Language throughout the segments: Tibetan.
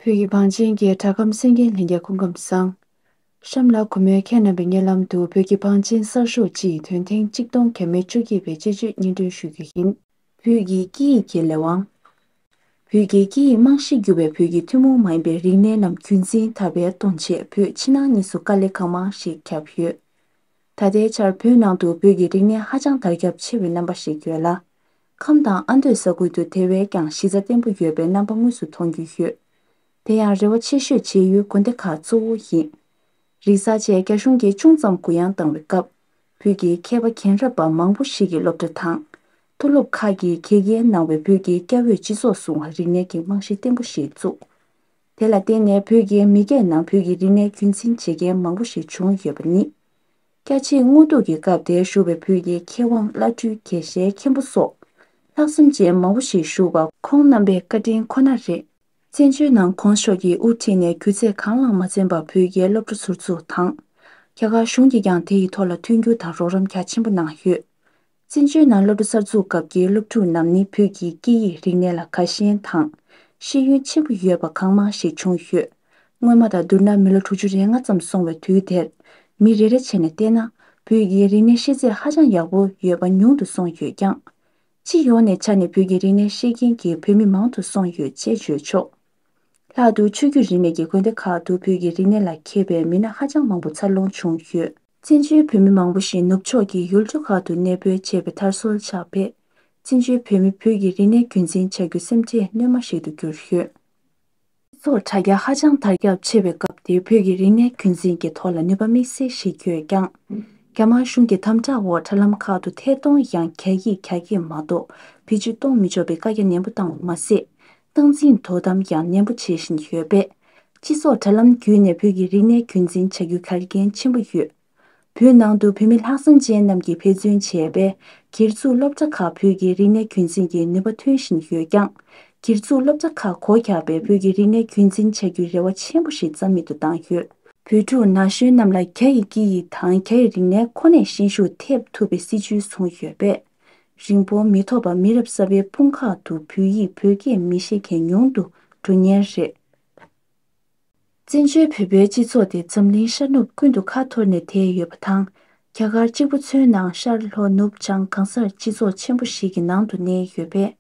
བོད་ཀྱི་བང་ཆེན་གྱི་གྲྭ་ཁམས་སེང་གེ་ལྷན་རྒྱས་སྐུ་ཁམས་བཟང། ཤམ་ལ་གུ་མོའི་ཁྱེད་རྣམ་པའི་སྙན་ལམ་དུ་བོད་ཀྱི་བང་ཆེན་གསར་ཤོག་སྤྱི་ཡི་དོན་ཐེངས་གཅིག་སྟོང་གྱ་མི་བཅོ་བརྒྱད་པའི་དཔྱད་བརྗོད་སྙན་སྒྲོན་ཞུ་རྒྱུ་ཡིན། བོད་ཀྱི་སྐད་ཡིག་གི་ལས་དབང། བོད་ཀྱི་སྐད་ཡིག་རྨང་གཞི་བརྒྱུད་པའི་བོད་ཀྱི་ཐུན་མོང་མ་ཡིན་པའི་རིག་གནས་རྣམས་རྒྱུན་འཛིན་དར་སྤེལ་གཏོང་ཆེད་བོད་ཕྱི་ནང་གཉིས་སུ་དཀའ་ལས་གང་མང་ཞིག་བརྒྱབ་ཡོད། ད་ལྟའི་ཆར་བོད་ནང་དུ་བོད་ཀྱི་རིག་གནས་ཧ་ཅང་དར་ཁྱབ་ཆེ་བའི་རྣམ་པ་ཞིག་ཡོད་ལ། ཁམས་དང་ཨ་མདོའི་ས་ཁུལ་དུ་དེ་བས་ཀྱང་གཞི་རྩ་བརྟན་པོ་ཡོད་པའི་རྣམ་པ་དངོས་སུ་མཐོང་རྒྱུ་ཡོད། དེ་ཡང་རེ་བ་ཆེ་ཤོས་བྱེད་ཡུལ་དགོན་སྡེ་ཁག་གཙོ་བོ་ཡིན། རིག་གསར་བཅས་རྒྱ་གཞུང་གིས་ཅུང་ཙམ་གུ་ཡངས་བཏང་བའི་སྐབས། བོད་ཀྱི་མཁས་པ་མཁྱེན་རབ་པ་མང་པོ་ཞིག་གིས་སློབ་གྲྭ་དང། མཐོ་སློབ་ཁག་གིས་གེགས་རྐྱེན་གནང་བའི་བོད་ཀྱི་སྐྱ་བོས་སྤྱི་ཚོགས་སྲུང་བར་རིག་གནས་ཀྱི་རྨང་གཞི་བརྟན་པོ་ཞིག་བཙུགས། དེ་ལ་བརྟེན་ནས་བོད་ཀྱི་མི་སྐད་ནང་བོད་ཀྱི་རིག་གནས་རྒྱུན་འཛིན་བྱེད་མཁན་མང་པོ་ཞིག་བྱུང་ཡོད་པ་ནི། སྐྱ་ཆེན་སྔོ་སྡུག་གི་སྐབས་དེར་བཞུགས་པའི་བོད་ཀྱི་མཁས་དབང་བླ་སྤྲུལ་དགེ་བཤེས་མཁན་པོ་སོགས། ལྷག་བསམ་ཅན་མང་པོ་ཞིག་བཞུགས་པ། ཁོང་རྣམ་པའི་བཀའ་དྲིན་ཁོ་ན་རེད། བཙན་བྱོལ་ནང་ཁོང་ཕྱོགས་ཀྱིས་དབུ་ཁྲིད་ནས་སྒྱུ་རྩལ་གང་བླངས་མ་བཙན་པར་བོད་རྒྱའི་སློབ་གྲྭ་ཟུར་འཛུགས་དང། རྒྱ་གར་གཞུང་གིས་ཀྱང་དེ་ཡི་ཐོག་ལ་མཐུན་འགྱུར་དང་རོགས་རམ་རྒྱ་ཆེན་པོ་གནང་ཡོད། བཙན་བྱོལ་ནང་སློབ་གྲྭ་གསར་འཛུགས་སྐབས་ཀྱི་སློབ་ཕྲུག་རྣམས་ནི་བོད་ཀྱི་སྐད་ཡིག་རིག་གནས་ལ་དགའ་ཞེན་དང། ཤེས་ཡོན་ཆེན་པོ་ཡོད་པ་གང་མང་ཞིག་བྱུང་ཡོད། སྔོན་མ་དང་བསྡུར་ན་མི་ལོ་དྲུག་ཅུ་རེ་ལྔ་ཙམ་སོང་བའི་དུས་དེར། མི་རེ་རེ་བྱས་ནས་བལྟས་ན་བོད་ཀྱི་རིག་གནས་ཤེས་ཚད་ཧ་ཅང་ཡག་པོ་ཡོད་པ་ཉུང་དུ་སོང་ཡོད་ཀྱང། སྤྱི་ཡོངས་ནས་ཆ་ནས་བོད་ཀྱི་རིག་གནས་ཤེས་མཁན་གྱི་བོད་མི་མང་དུ་སོང་ཡོད་ཅེས་བརྗོད་ཆོག། ལྷག་ཏུ་ཆོས་བརྒྱུད་རིས་མེད་ཀྱི་དགོན་སྡེ་ཁག་ཏུ་བོད་ཀྱི་རིག་གནས་ལ་མཁས་པའི་མི་སྣ་ཧ་ཅང་མང་པོ་འཚར་ལོངས་བྱུང་ཡོད། བཙན་བྱོལ་བོད་མི་མང་པོ་ཞིག་ནུབ་ཕྱོགས་ཀྱི་ཡུལ་གྲུ་ཁག་ཏུ་གནས་སྤོས་བྱས་པའི་མཐར་སྲོལ་ཆགས་པས་བཙན་བྱོལ་བོད་མི་བོད་ཀྱི་རིག་གནས་རྒྱུན་འཛིན་བྱ་རྒྱུ་སེམས་ཁྲལ་སྣོན་མ་ཞིག་ཏུ་གྱུར་ཡོད། སྤྱི་ཚོགས་དྲ་རྒྱ་ཧ་ཅང་དར་ཁྱབ་ཆེ་བའི་སྐབས་དེར་བོད་ཀྱི་རིག་གནས་རྒྱུན་འཛིན་གྱི་ཐོག་ལ་ནུས་པ་དམིགས་བསལ་ཞིག་ཡོད་རྐྱང། རྒྱ་དམར་གཞུང་གི་དམ་དྲག་འོག་དྲ་ལམ་ཁག་ཏུ་ཐད་གཏོང་ཡང་བསྐྱར་ཡིག་གྱ་གྱིས་མ་གཏོགས་བེད་སྤྱོད་གཏོང་མི་ཆོག་པའི་བཀའ་རྒྱ་ནན་པོ་བཏང་བ་མ་ཟད། སྟངས་འཛིན་དོ་དམ་ཡང་ནན་པོ་བྱེད་བཞིན་ཡོད་པས། སྤྱི་ཚོགས་དྲ་ལམ་བརྒྱུད་ནས་བོད་ཀྱི་རིག་གནས་རྒྱུན་འཛིན་བྱ་རྒྱུ་གལ་འགན་ཆེན་པོ་ཡོད། བོད་ནང་དུ་བོད་མི་ལྷག་བསམ་ཅན་རྣམས་ཀྱིས་ཕེབས་བརྩོན་བྱས་པས་སྒེར་བཙུགས་སློབ་གྲྭ་ཁག་བོད་ཀྱི་རིག་གནས་རྒྱུན་འཛིན་གྱི་ནུས་པ་ཐོན་བཞིན་ཡོད་ཀྱང། སྒེར་བཙུགས་སློབ་གྲྭ་ཁག་གོ་ཁྱབ་པའི་བོད་ཀྱི་རིག་གནས་རྒྱུན་འཛིན་བྱ་རྒྱུའི་རེ་བ་ཆེན་པོ་ཞིག་རྩ་མེད་དུ་བཏང་ཡོད། བོད་ཕྲུག་ན་གཞོན་རྣམས་ལ་རྒྱ་ཡི་སྐད་ཡིག་དང་རྒྱ་ཡི་རིག་གནས་ཁོ་ནས་ཤན་ཤུགས་ཐེབས་ཐུབ་པའི་སྲིད་བྱུས་བཟུང་ཡོད་པས། རིང་པོར་མི་ཐོགས་པར་མི་རབས་གསར་པའི་དཔུང་ཁག་ཏུ་བོད་ཡིག་བོད་སྐད་མི་ཤེས་མཁན་ཉུང་དུ་འགྲོ་ཉེན་རེད། བཙན་བྱོལ་བོད་པའི་སྤྱི་ཚོགས་དེ་འཛམ་གླིང་ཤར་ནུབ་ཀུན་ཏུ་ཁ་འཐོར་ནས་དེད་ཡོད་པ་དང། རྒྱ་གར་གཅིག་པུ་མཚོན་ན་ཤར་ལྷོ་ནུབ་བྱང་གང་སར་སྤྱི་ཚོགས་ཆེན་པོ་ཞིག་གི་ནང་དུ་གནས་ཡོད་པས།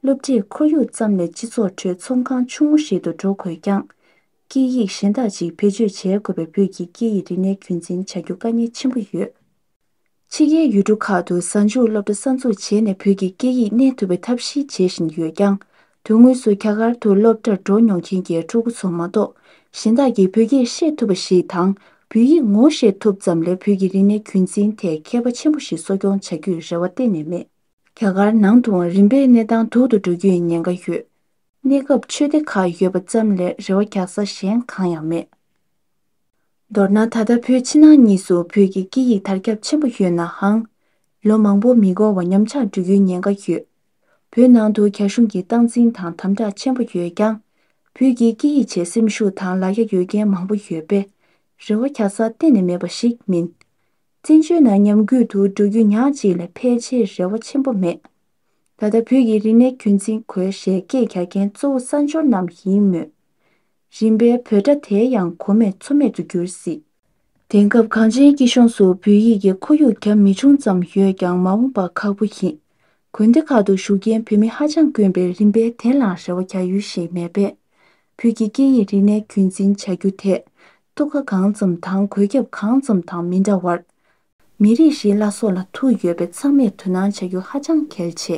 སློབ་གྲྭས་ཁོར་ཡུག་ཙམ་ལས་སྤྱི་ཚོགས་ཁྲོད་ཚོང་ཁང་ཆུང་ངུ་ཞིག་ཏུ་འགྲོ་དགོས་ཀྱང། སྐད་ཡིག་གཞན་དག་ཅིག་བེད་སྤྱོད་བྱེད་དགོས་པས་བོད་ཀྱི་སྐད་ཡིག་རིག་གནས་རྒྱུན་འཛིན་བྱ་རྒྱུ་དཀའ་ངལ་ཆེན་པོ་ཡོད། ཕྱི་རྒྱལ་ཡུལ་གྲུ་ཁག་ཏུ་གཟའ་མཇུག་སློབ་གྲྭ་གསར་འཛུགས་བྱས་ནས་བོད་ཀྱི་སྐད་ཡིག་གནས་ཐུབ་པའི་ཐབས་ཤེས་བྱེད་བཞིན་ཡོད་ཀྱང། དོན་དངོས་སུ་རྒྱ་གར་དུ་སློབ་གྲྭར་འགྲོ་མྱོང་མཁན་གྱི་ཕྲུ་གུ་ཚོ་མ་གཏོགས་གཞན་དག་གིས་བོད་སྐད་ཤེས་ཐུབ་པ་ཞིག་དང་བོད་ཡིག་ངོ་ཤེས་ཐུབ་ཙམ་ལས་བོད་ཀྱི་རིག་གནས་རྒྱུན་འཛིན་ཐད་མཁས་པ་ཆེན་པོ་ཞིག་གསོ་སྐྱོང་བྱ་རྒྱུའི་རེ་བ་གཏན་ནས་མེད། རྒྱ་གར་ནང་དུའང་རིམ་པས་གནས་སྟངས་སྡུག་ཏུ་འགྲོ་རྒྱུའི་ཉེན་ཁ་ཡོད། གནས་སྐབས་ཆོས་སྡེ་ཁག་ཡོད་པ་ཙམ་ལས་རེ་བ་རྒྱག་ས་གཞན་གང་ཡང་མེད། མདོར་ན་ད་ལྟ་བོད་ཕྱི་ནང་གཉིས་སུ་བོད་ཀྱི་སྐད་ཡིག་དར་ཁྱབ་ཆེན་པོ་ཡོད་ནའང། ལོ་མང་པོ་མི་འགོར་བར་ཉམས་ཆག་འགྲོ་རྒྱུའི་ཉེན་ཁ་ཡོད། བོད་ནང་དུ་རྒྱ་གཞུང་གིས་སྟངས་འཛིན་དང་དམ་དྲག་ཆེན་པོ་ཡོད་ཀྱང། བོད་ཀྱི་སྐད་ཡིག་ཆེད་སེམས་ཤུགས་དང་ལ་རྒྱ་ཡོད་མཁན་མང་པོ་ཡོད་པས། རེ་བ་འཁྱག་ས་གཏན་ནས་མེད་པ་ཞིག་མིན། བཙན་བྱོལ་ནང་ཉམས་རྒུད་དུ་འགྲོ་རྒྱུ་ཉག་ཅིག་ལས་ཕལ་ཆེར་རེ་བ་ཆེན་པོ་མེད། ད་ལྟ་བོད་ཀྱི་རིག་གནས་རྒྱུན་འཛིན་དགོས་ཞེས་སྐད་རྒྱག་མཁན་གཙོ་བོ་གསར་འབྱོར་རྣམས་ཡིན་མོད། རིམ་པའི་བོད་སྒྲ་དེ་ཡང་གོ་མེད་ཆོ་མེད་དུ་གྱུར་སྲིད། དེང་སྐབས་གངས་ཅན་སྐྱིད་གཤོངས་སུ་བོད་ཡིག་གི་ཁོར་ཡུག་གྱ་མི་ཆུང་ཙམ་ཡོད་ཀྱང་མ་འོངས་པ་ཁག་པོ་ཡིན། དགོན་སྡེ་ཁག་ཏུ་བཞུགས་མཁན་བོད་མི་ཧ་ཅང་དཀོན་པས་རིམ་པས་དེ་ལ་རེ་བ་གྱ་ཡུལ་ཞིག་མེད་པས། བོད་ཀྱི་སྐད་ཡིག་རིག་གནས་རྒྱུན་འཛིན་བྱ་རྒྱུ་དེ། ཐུགས་ཁ་གང་ཙམ་དང་གོད་ཁྱབ་གང་ཙམ་དང་མི་འདྲ་བར། མི་རིགས་ཤིག་བླ་སྲོག་ལ་ཐུག་ཡོད་པས་ཚང་མས་དོ་སྣང་བྱ་རྒྱུ་ཧ་ཅང་གལ་ཆེ།